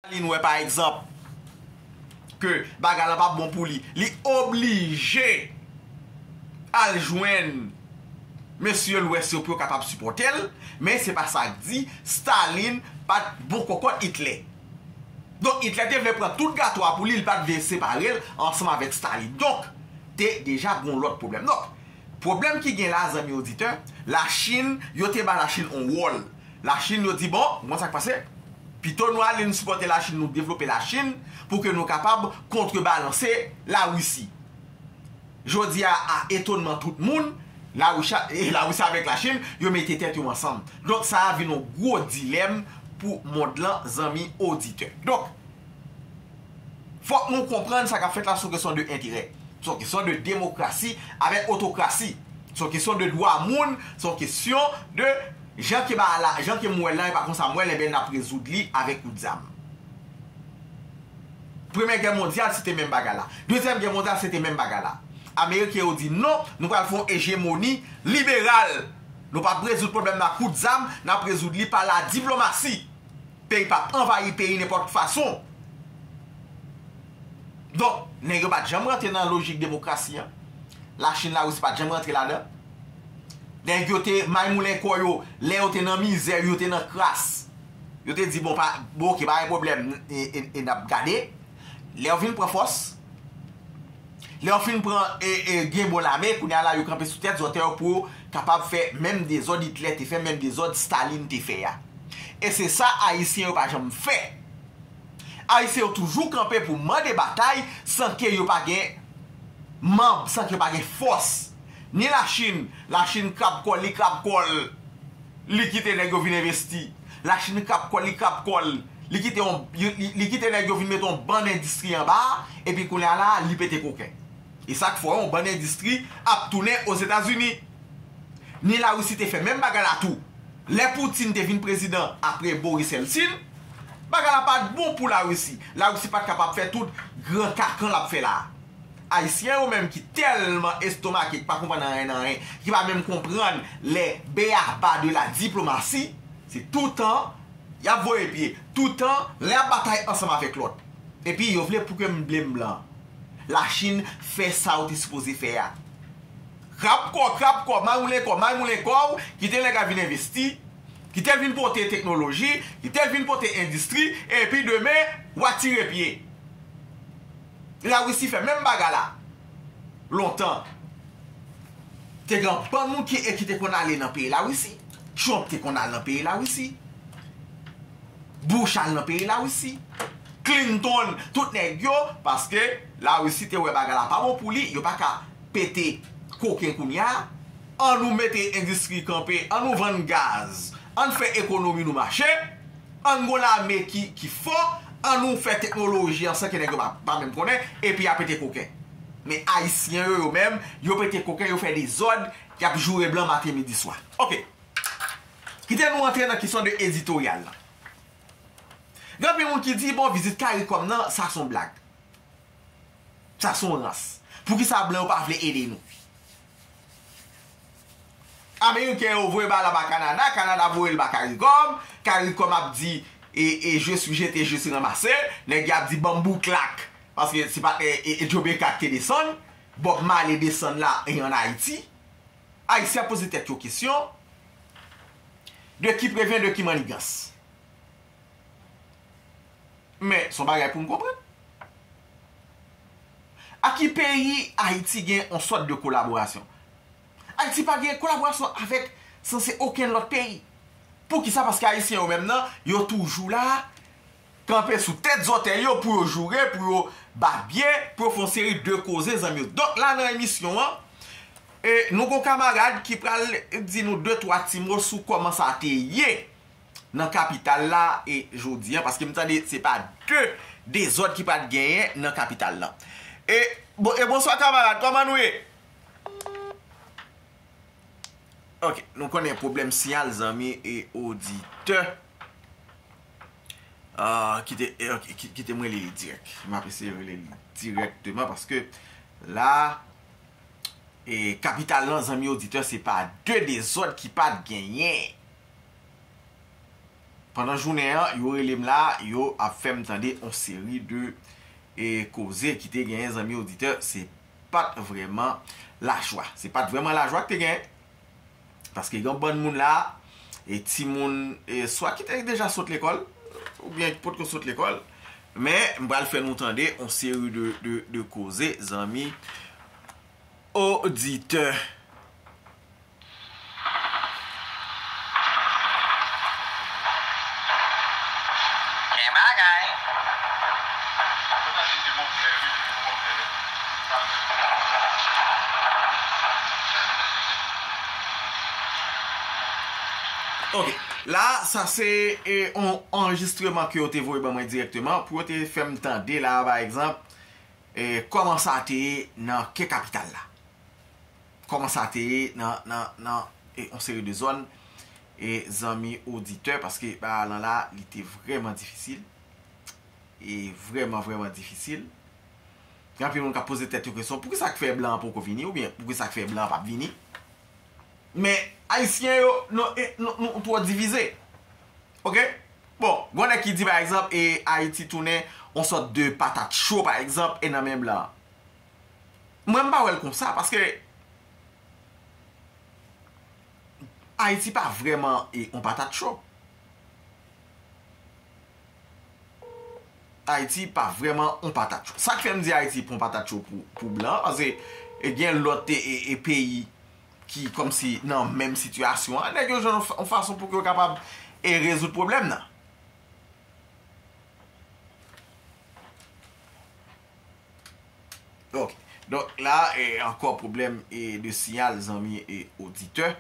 Darline wè pa egzanp ke bagay la pa bon pou li, li oblije al jwenn mesye lwès yo pou yo kapab sipòte l, men se pa sa k di Staline pa t bon kòkòt Hitler. Donk Hitler te vle pran tout gato a pou li, li pa t vle separe l ansanm avèk Staline. Donk te deja gon lòt pwoblèm. Donk. Pwoblèm ki gen la zanmi oditè, la Chinn yo te ba la Chinn on wòl. La Chinn yo di bon, ou konn sak pase? Pito nou ale nou sipòte la Chinn nou devlope la Chinn pou ke nou kapab kontre balanse la Russie. Jodi a a etonman tout moun, la Russia e la Russie avèk la Chinn yo mete tèt yo ansanm. Donk sa a vin on gwo dilèm pou mond lan zanmi oditè. Donk. Fòk nou konprann sa k ap fèt la son kesyon de enterè, son kesyon de demokrasi avèk otokrasi, son kesyon de dwa moun, son kesyon de jan ke bagay la, jan ke m wè l la e pa konsa m wè l, enben n ap rezoud li avèk kout zam. Premyè gè mondyal se te menm bagay la. Dezyèm gè mondyal se te menm bagay la. Ameriken yo di non, nou pral fè yon ejemoni liberal. Nou p ap rezoud pwoblèm nan ak kout zam, n ap rezoud li pa ladiplomasi. Peyi pa anvayi peyi nenpòt fason. Donk, nèg yo pa t janm rantre nan lojik demokrasi an. Lachin, Larisi pa t janm rantre ladan l. Nèg yo te maymoulen kò yo lè yo te nan mizè, yo te nan kras. Yo te di bon, bon oke, pa gen pwoblèm, e n ap gade. Lè yo vin pran fòs. Lè yo fin pran Gimbo lame, kounye a la yo kanpe sou tèt zòtè yo pou yo kapab fè menm dezòd Hitler te fè, menm dezòd Staline te fè a. E se sa Ayisyen yo pa janm fè. Ayisyen yo toujou kanpe pou mande batay san ke yo pa gen manb, san ke yo pa gen fòs. Ni Lachin, Lachin krab kò l, li krab kò l, li kite nèg yo vin envesti. Lachin krab kò l, li krab kò l. Li kite yon, li kite nèg yo vin mete yon bann endistri anba a, epi kounye a la a, li pete koken. E sa k fè yon bann endistri ap tounen Ozetazini. Ni Larisi te fè menm bagay la tou. Lè Putin te vin prezidan apre Boris Yeltsin, bagay la pa t bon pou Larisi. Larisi pa t kapab fè tout gran kakan l ap fè la a. Ayisyen yo menm ki tèlman estomake, ki pa konprann anyen nan anyen, ki pa menm konprann les b-a-ba de la diplomatie, se toutan Y ap voye pye toutan lè y ap batay ansanm avèk lòt. Epi yo vle pou ke m blame blan. Lachin fè sa yo te sipoze fè a. Krab kò, krab kò, may moulen kò, may moulen kò w, kite nèg la vin envesti, kite l vin pote teknoloji, kite l vin pote endistri, epi demen, w a tire pye. La Russie fè menm bagay la lontan. Te gen bann moun ki e ki te konn ale nan peyi La Russie. Trump te konn al nan peyi La Russie. Bush al nan peyi La Russie. Clinton, tout nèg yo, paske La Russie te wè bagay la pa bon pou li, yo pa ka pete koken kounya. An nou mete endistri kanpe, an nou vann gaz, an fè ekonomi nou mache. Ann gon lame ki ki fò, ann nou fè teknoloji an san ke nèg yo pa pa menm konnen, epi ya pete koken. Men ayisyen yo yo menm, yo pete koken, yo fè dezòd, yap joure blan maten midi swa. Ok. Kite nou antre nan kesyon de editoryal lan. Gen anpil moun ki di bon vizit caricom nan sa son blag. Sa son rans. Poukisa blan yo pa vle ede nou. Ameriken yo voye bal la ba Kanada, Kanada voye l ba Karikòm, Karikòm ap di e je swi jete je swi ranmase, nèg y ap di ban m bouklak, paske se pa t e Jomeka k te desann, Bòb Male desann la e ann Ayiti. Ayisyen ap poze tèt yo kesyon, de ki prevyen de ki mannigans? Men, son bagay poum konprann. A ki peyi Ayiti gen on sòt de kolaborasyon? Ayiti pa gen kolaborasyon avèk sanse okenn lòt peyi. Poukisa? Paske Ayisyen yo menm nan, yo toujou la, kanpe sou tèt zòtèy yo pou yo joure, pou yo bat bye, pou yo fè on seri de koze zanmi yo. Donk la nan emisyon an, nou gon kamarad ki pral di nou de twa ti mo sou kòman sa te ye nan kapital la e jodi an paske m tande se pa de dezòd ki pat genyen nan kapital la e e bonswa kamarad kòman nou ye ok nou konnen pwoblèm siyal zanmi e oditè kite m rele li dirèk m ap eseye rele li dirèkteman paske la e kapital la zanmi oditè se pa de dezòd ki pat genyen. Pandan jounen an, yo rele m la, yo ap fè m tande on seri de koze ki te genyen zanmi oditè, se pa t vrèman lajwa. Se pa t vrèman lajwa ki te genyen, paske gen on bann moun la, e timoun swa ki te deja sot lekòl, oubyen ki potko sot lekòl, men m pral fè nou tande on seri de koze zanmi oditè. Gen bagay. Ok la sa se yon anrejistreman ke yo te voye ban mwen direkteman pou yo te fè m tande la pa egzanp kòman sa te ye nan ke kapital la. Kòman sa te ye nan yon seri de zòn, zanmi oditè, paske bagay lan la, li te vrèman difisil, e vrèman vrèman difisil. Gen anpil moun k ap poze tèt yo kesyon, poukisa k fè blan an poko vini, oubyen poukisa k fè blan an p ap vini? Men, Ayisyen yo, nou twò divize. Ok? Bon, g'on nèg ki di, pa egzanp, e Ayiti tounen yon sòt de patat cho, pa egzanp, e nan men blan an. Mwen m pa wè l konsa paske Ayiti pa vrèman yon patat cho. Ayiti pa vrèman yon patat cho. Sa k fè m di Ayiti pa yon patat cho pou blan an paske gen lòt peyi ki kòmsi nan menm sitiyasyon an. Nèg yo jwenn yon fason pou yo kapab rezoud pwoblèm nan. Ok, donk la ankò pwoblèm de siyal zanmi e oditè.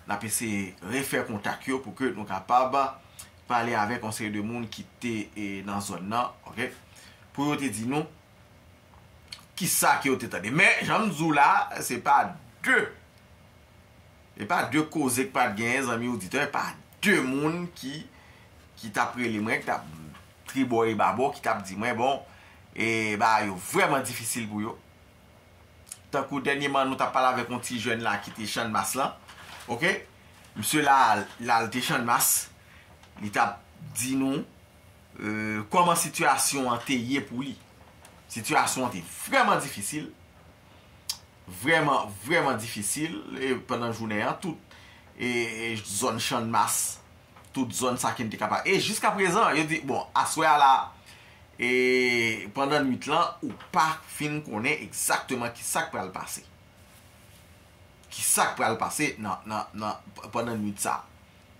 N ap eseye refè kontak yo pou ke nou kapab pale avèk yon seri de moun ki te nan zòn nan, ok, pou yo te di nou ki sa ke yo te tande. Men, jan m di w la, se pa de, se pa de koze k pa t genyen zanmi oditè, pa de moun ki t ap rele mwen, ki t ap. tribò e babò ki tap di mwen bon e bagay yo vrèman difisil pou yo. Tankou dènyeman nou tap pale avèk yon ti jèn la ki te channmas lan ok misye la lal te channmas li tap di nou kòman sitiyasyon an te ye pou li. Sitiyasyon an te vrèman difisil vrèman vrèman difisil pandan jounen an tout zòn channmas tout zòn sa kin te kapab e jiska prezan yo di bon aswè a la e pandan nwit lan ou pa fin konnen egzakteman ki sak pral pase ki sak pral pase nan pandan nwit sa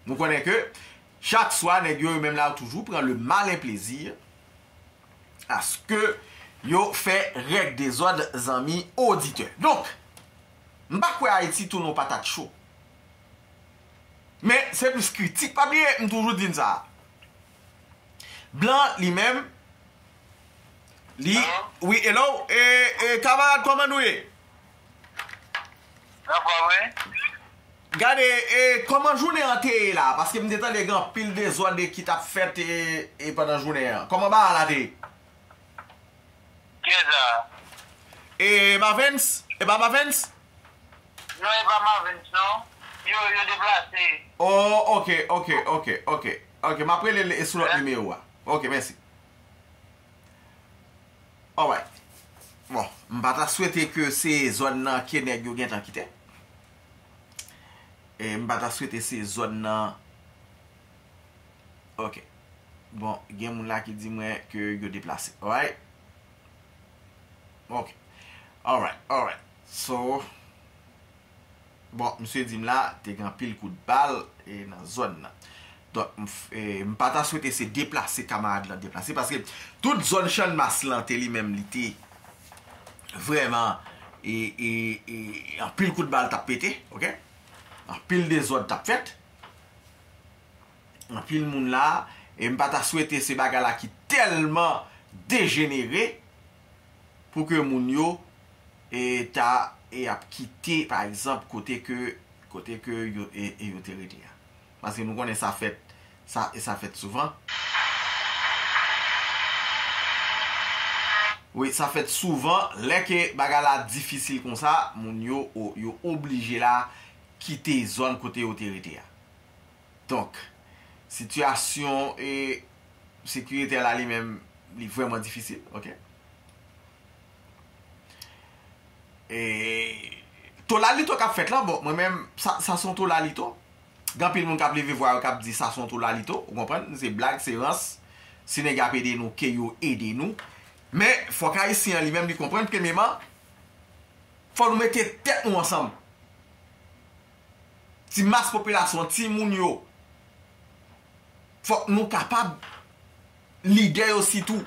nou konnen ke chak swa nèg yo yo menm la yo toujou pran le malen plezi aske yo fè règ dezòd zanmi oditè donk m pa kwè ayiti tounen yon patat cho. Men se plis kritik. Pa bliye m toujou di n sa. Blan li menm li wi hello e kamarad kòman nou ye? Nan fòm wi. Gade e kòman jounen an te ye la paske m te tande gen anpil dezòd ki t ap fèt e pandan jounen an. Kòman bagay la te ye? Kiyes la? E Mavens? E pa Mavens? Non e pa Mavens non. Yo yo deplase. Oh ok ok ok ok ok map rele l sou lòt nimewo a ok mèsi alright bon m pa ta swete ke se zòn nan ke nèg yo gentan kite m pa ta swete se zòn nan Ok Bon gen moun la ki di mwen ke yo deplase Alright Ok Alright Alright So Bon misye di m la te gen anpil kout bal nan zòn nan Donk m pa ta swete se deplase kamarad lan deplase paske tout zòn channmas lan te li menm li te vrèman e anpil kout bal t ap pete ok anpil dezòd t ap fèt. Anpil moun la, e m pa ta swete se bagay la ki tèlman dejenere pou ke moun yo e ta e ap kite pa egzanp kote ke kote ke yo e yo te rete a. Paske nou konnen sa fèt sa e sa fèt souvan. Wi sa fèt souvan lè ke bagay la difisil konsa moun yo o yo oblije la kite zòn kote yo te rete a. Donk, sitiyasyon e sekiritè la li menm li vrèman difisil, ok. E tolalito k ap fèt la, bon, mwen menm, sa s on tolalito. Gen anpil moun k ap leve vwa yo k ap di sa s on tolalito, ou konprann, se blag, se rans. Si nèg y ap ede nou, ke yo ede nou. Men, fòk Ayisyen an li menm li konprann, premyeman, Fò nou mete tèt nou ansanm. Ti mas popilasyon an, ti moun yo. Fòk nou kapab, lidè yo sitou.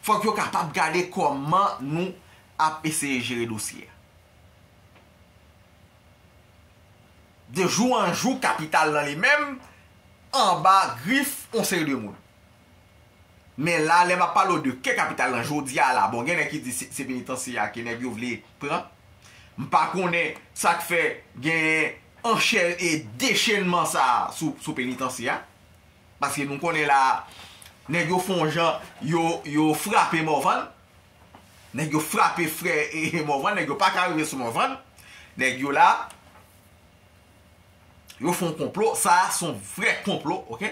Fòk yo kapab gade kòman nou ap eseye jere dosye a. De jou an jou kapital nan li menm anba grif yon seri de moun. Men la, lè m ap pale w de ke kapital lan jodi a la, bon gen nèg ki di se penitansye a ke nèg yo vle pran. M pa konnen sa k fè genyen anchè e dechenman sa a sou penitansye a. Paske nou konnen la a, nèg yo fon jan yo frape Morvan. Nèg yo frape frè Morvan, nèg yo pa ka rive sou Morvan. Nèg yo la, yo fon konplo, sa a son vrè konplo, ok.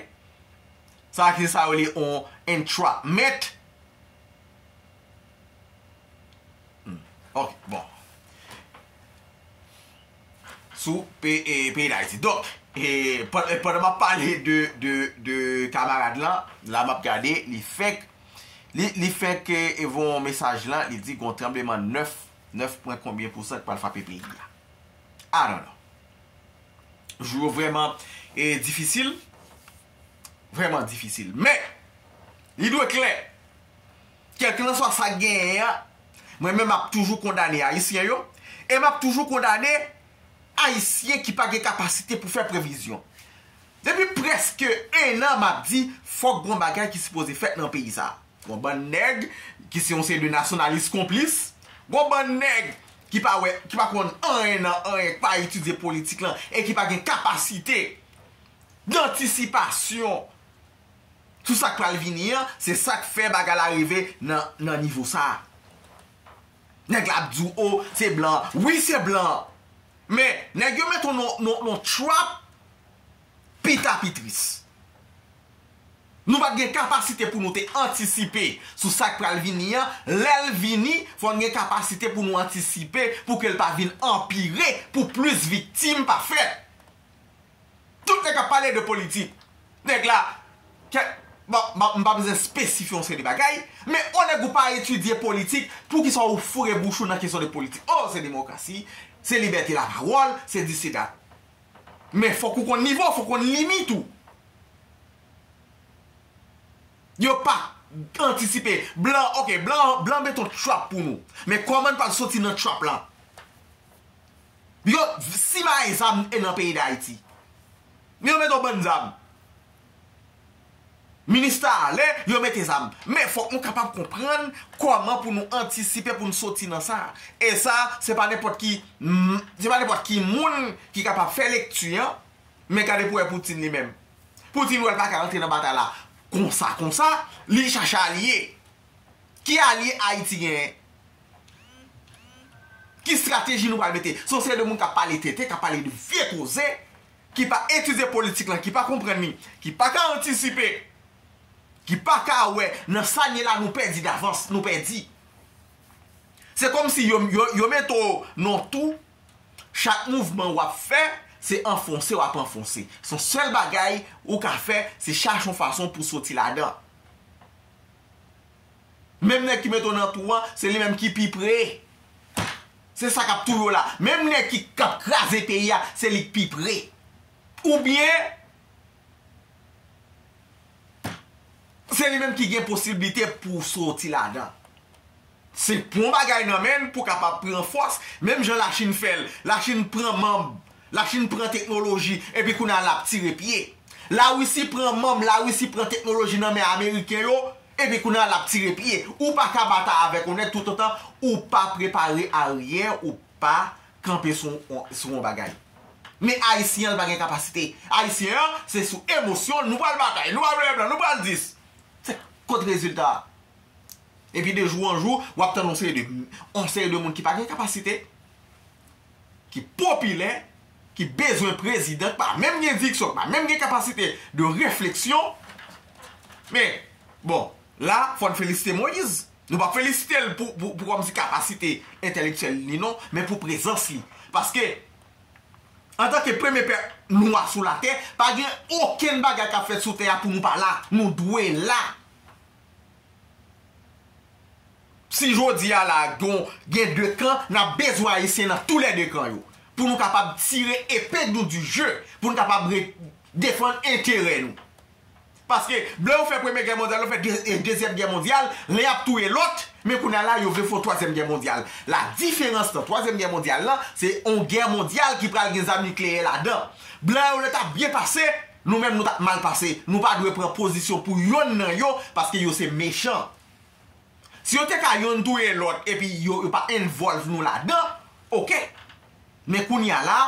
Sa se sa yo rele yon entrapment. Ok, bon. Sou peyi Dayiti. Donk, pandan map pale de kamarad lan, la map gade, li fèk, li fèk e voye yon mesaj lan, li di gon tranbleman 9, 9 pwen konbyen pousan ki pral frape peyi a. I don't know. Jou yo vrèman difisil, vrèman difisil. Men, li dwe klè, kèlkilanswa sa k genyen an, mwen menm m ap toujou kondane Ayisyen yo e m ap toujou kondane Ayisyen ki pa gen kapasite pou fè previzyon. Depi prèske ennan m ap di fòk gon bagay ki sipoze fèt nan peyi sa a. Gon bann nèg ki se yon seri de nasyonalis konplis, gon bann nèg ki pa wè, ki pa konn anyen nan anyen, ki pa etidye politik lan e ki pa gen kapasite dantisipasyon sou sa k pral vini an, se sa k fè bagay la rive nan nivo sa a. Nèg la ap di w, o, se blan an. Wi, se blan an. Men, nèg yo met w nan yon trap. pita pi tris. Nou pa t gen kapasite pou nou te antisipe sou sa k pral vini an, lè l vini, fò n gen kapasite pou nou antisipe pou ke l pa vin anpire, pou plis viktim pa fèt. Tout nèg k ap pale de politik, nèg la, kèk, bon, m pa bezwen espesifye yon seri de bagay, men o nèg ou pa etidye politik, poukisa ou foure bouch ou nan kesyon de politik? O, se demokrasi, se libète lapawòl, se disi dat. Men fok ou konn nivo, fok ou konn limit ou. Yo pa antisipe. Blan ok, blan mete yon trap pou nou. Men koman n pral soti nan trap la? Yo simaye zam nan peyi Dayiti. Yo mete yon bann zam. Minista ale, yo mete zam. Men fòk nou kapab konprann kòman pou nou antisipe pou n soti nan sa. E sa, se pa nenpòt ki se pa nenpòt ki moun ki kapab fè lekti an, men gade pou wè Putin li menm. Putin wè l pa ka antre nan batay la konsa konsa, li chache alye. Ki alye Ayiti genyen? Ki strateji nou pral mete? Se yon seri de moun k ap pale tenten, k ap pale de vye koze, ki pa etidye politik lan, ki pa konprann li, ki pa ka antisipe, ki pa ka wè nan sa n ye la nou pèdi davans, nou pèdi. Se kòm si yo mete w nan yon tou, chak mouvman w ap fè, se anfonse w ap anfonse. Son sèl bagay ou ka fè, se chache yon fason pou soti ladan. Menm nèg ki mete w nan twou an, se li menm ki pi pre. Se sa k ap touye w la. Menm nèg ki k ap kraze peyi a, se li k pi pre. Oubyen, se li menm ki gen posiblite pou w soti ladan. Se pran bagay nan men l pou w kapab pran fòs. Menm jan Lachin fè l. Lachin pran manm. Lachin pran teknoloji. Epi kounye a l ap tire pye. Larisi pran manm. Larisi pran teknoloji nan men Ameriken yo. Epi kounye a lap tire pye. Ou pa ka batay avèk yon nèg tout otan ou pa prepare aryen ou pa kanpe sou yon bagay. Men ayisyen an li pa gen kapasite. Ayisyen an se sou emosyon l nou pral batay, nou pral veye blan, nou pral dis. Se kot rezilta a? Epi de jou an jou wap tann yon seri de moun ki pa gen kapasite, ki popilè, ki bezwen prezidan ki pa menm gen diksyon, ki pa menm gen kapasite de refleksyon, men, bon, la fò n felisite Moyiz, nou pa p felisite l pou kòmsi kapasite entèlektyèl li non, men pou prezans li, paske, antanke premye pèp nwa sou latè, pa gen okenn bagay k ap fèt sou tè a pou nou pa la, nou dwe la. Si jodi a la gon gen 2 kan, nap bezwen ayisyen nan tou lè 2 kan yo. Pou nou kapab tire epe nou di je, pou nou kapab re defann enterè nou. Paske lè yo fè premye gè mondyal, yo fè dezyèm gè mondyal, len ap touye lòt, men kounye a la yo vle fè yon twazyèm gè mondyal. La diferans nan twazyèm gè mondyal la, se yon gè mondyal ki pral gen zam nikleyè ladan. Blan yo lè tap byen pase, Nou menm nou tap mal pase. Nou pa dwe pran pozisyon pou yonn nan yo paske yo se mechan. Si yo te ka yonn touye lòt epi yo yo pa envolve nou ladan ok. Men kounya la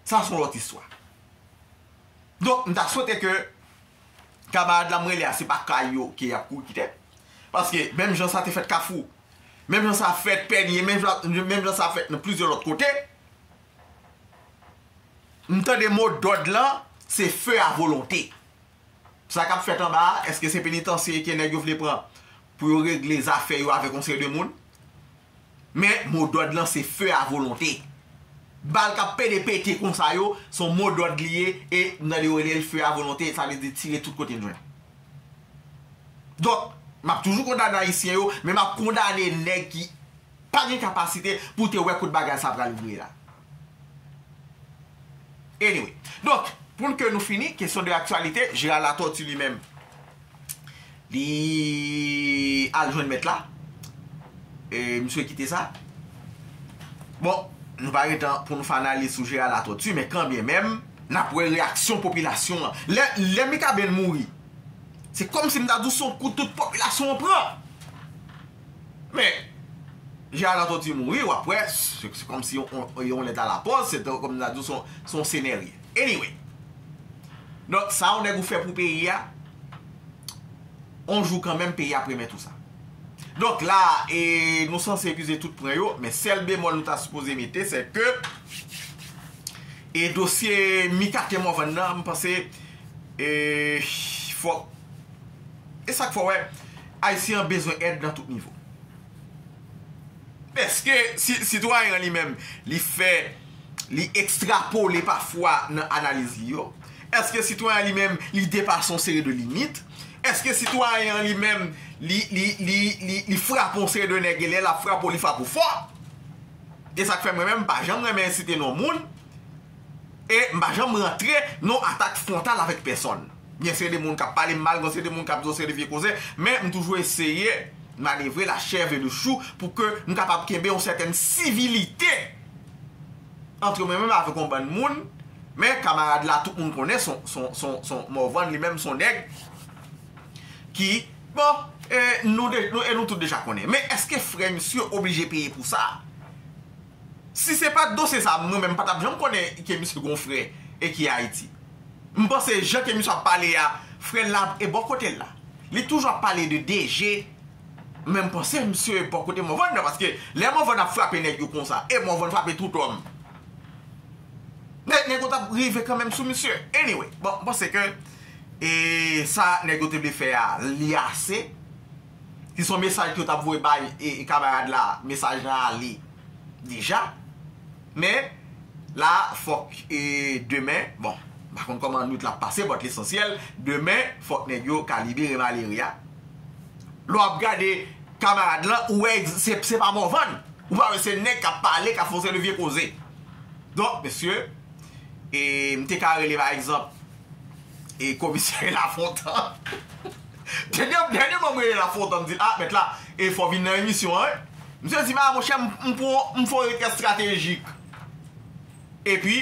sa son lòt istwa. Donk m ta swete ke kamarad la m rele a se pa kay yo ke yap kouri kite. Paske menm jan sa te fèt kafou, menm jan sa fèt pènye, menm jan sa fèt nan plizyè lòt kote, M tande mo dòd lan se feu a volonté. Sa k ap fèt anba a, èske se penitansye ke nèg yo vle pran pou yo regle zafè yo avèk yon seri de moun? Men, mo dòd lan se feu a volonté. Bal k ap pede pete konsa yo, se yon mo dòd li ye e m tande yo rele l feu a volonté, sa vle di tire tout kote n jwenn. Donk, m ap toujou kondane Ayisyen yo, men m ap kondane nèg ki. pa gen kapasite pou te wè kot bagay sa pral vire la. Anyway, donk, poun ke nou fini, kesyon de aktyalite, Gérard Latortue li menm, li al jwenn mèt la, e misye kite sa. Bon, nou pa gen tan pou nou fè analiz sou Gérard Latortue, men kan byen menm, n ap wè reyaksyon popilasyon an. Lè Mikaben mouri, se kòm si m ta di w se yon kou tout popilasyon an pran. Men, jan Alan Tonti mouri, w ap wè, se kòm si yon lèt a la pòs, se kòm si ta di w se yon senarye. Anyway, donk sa yon nèg ou fè pou peyi a, yon jou kanmenm peyi a ap remèt ou sa. Donk la a, e nou sanse epize tout pwen yo, men sèl bemòl nou ta sipoze mete, se ke, e dosye Mica T. Morvan nan, m panse, e, fòk. E sak fè w wè Ayisyen an bezwen èd nan tout nivo. Eske sitwayen an li menm li fè li ekstrapole pafwa nan analiz li yo? Eske sitwayen an li menm li depase yon seri de limit? Eske sitwayen an li menm li frape yon seri de nèg e lè l ap frape w li frape w fò? E sak fè mwen menm m pa janm renmen site non moun e m pa janm rantre nan atak fwontal avèk pèsonn. Gen seri de moun kap pale m mal, gen seri de moun kap di yon seri de vye koze, men m toujou eseye manevre la chèv e le chou pou ke m kapab kenbe yon sètèn sivilite antre mwen menm avèk yon bann moun, men kamarad la tout moun konnen son Morvan li menm son nèg ki bon e nou tout deja konnen. Men eske frè misye oblije peye pou sa? Si se pat dosye sa mwen menm m patap janm konnen ke misye gon frè e ki Ayiti. M panse jan ke misye ap pale a frè l la e bò kote l la. Li toujou ap pale de DG men m panse misye e bò kote Morvan nan paske lè Morvan ap frape nèg yo konsa e Morvan frape tout òm nèg yo tap rive kanmenm sou misye. Anyway bon m panse ke e sa nèg yo te vle fè a li ase. Si son mesaj yo tap voye bay kamarad la mesaj lan ale deja men la fok demen bon pa konn koman nwit la ap pase but lesansyel demen fok neg yo ka libere malere a lè wap gade kamarad lan ou wè se pa Morvan ou pa wè se neg kap pale kap fè yon seri de vye koze donk mesye mte ka rele pa egzanp komisè lafontant. Dènyèman m rele l ap fè on tan m di l a mèt la e fò w vin nan emisyon an wi. Misye di m a monchè m pou m fè on rekèt stratejik. Epi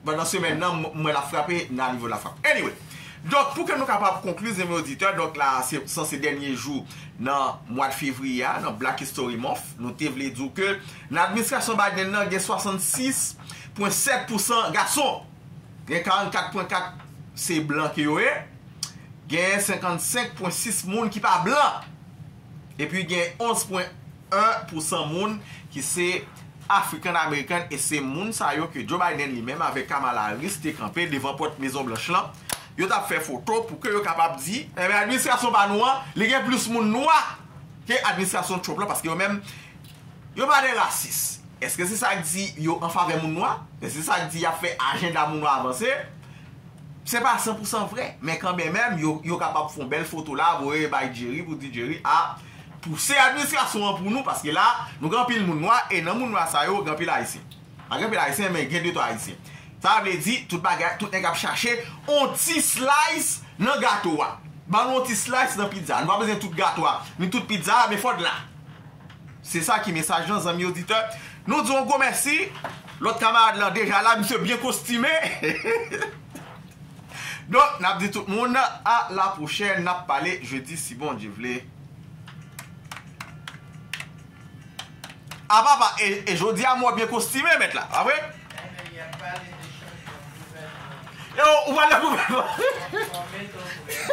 pandan semèn nan m wè l ap frape nan a nivo lafrap. Anyway, donk pou ke nou kapab konkli zanmi oditè donk la a se san se dènye jou nan mwad fevriye a nan Black History Month nou te vle di w ke nan administrasyon Biden nan gen 66 pwen 7 pousan gason. Gen 44 pwen 4 se blan ke yo ye, gen 55 pwen 6 moun ki pa blan, epi gen 11 pwen 1 pou 100 moun ki se African American e se moun sa yo ke Joe Biden li menm avèk Kamala Harris te kanpe devan pòt Mezon Blanch lan, yo tap fè foto pou ke yo kapab di administrasyon pa nou an li gen plis moun nwa ke administrasyon Trump lan paske yo menm Yo pa de rasis. Eske se sa k di yo an favè moun nwa? Eske se sa k di y ap fè ajenda moun nwa avanse? Se pa san pou san vre, men kanmenmenm yo kapab fon bèl foto la voye bay Jerry pou di Jerry a pouse administrasyon an pou nou paske la nou gen anpil moun nwa e nan moun nwa sa yo gen anpil ayisyen. Pa gen anpil ayisyen men gen de twa ayisyen. Sa vle di tout bagay, tout nèg ap chache on ti slice nan gato a. Ban nou on ti slice nan pizza. Nou pa bezwen tout gato a, ni tout pizza a men fò l la. Se sa ki mesaj lan zanmi oditè. Nou di w yon gwo mèsi. Lòt kamarad lan deja la, misye byen kostime. Donk, n ap di tout moun a la pwochèn, n ap pale jedi si Bondye vle. A papa, e jodi a m wè w byen kostime mèt la, pa vre? Mèt y ap pale de chanjman gouvènman. E ou pale de gouvènman? Fòme ton frè.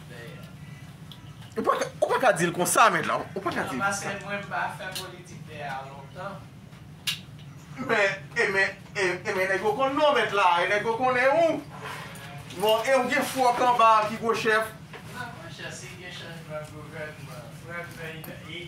Ou pa ka, ou pa ka dil konsa mèt la, ou pa ka dil konsa. Nan pase mwen pa fè politik dè a lontan. Men, e men, e men nèg yo konn non mèt la, e nèg yo konnen ou. Bon, e ou gen fwòk anba ki gwo chèf. Nan gwo chèf si gen chanjman gouvènman, frè m nan, e.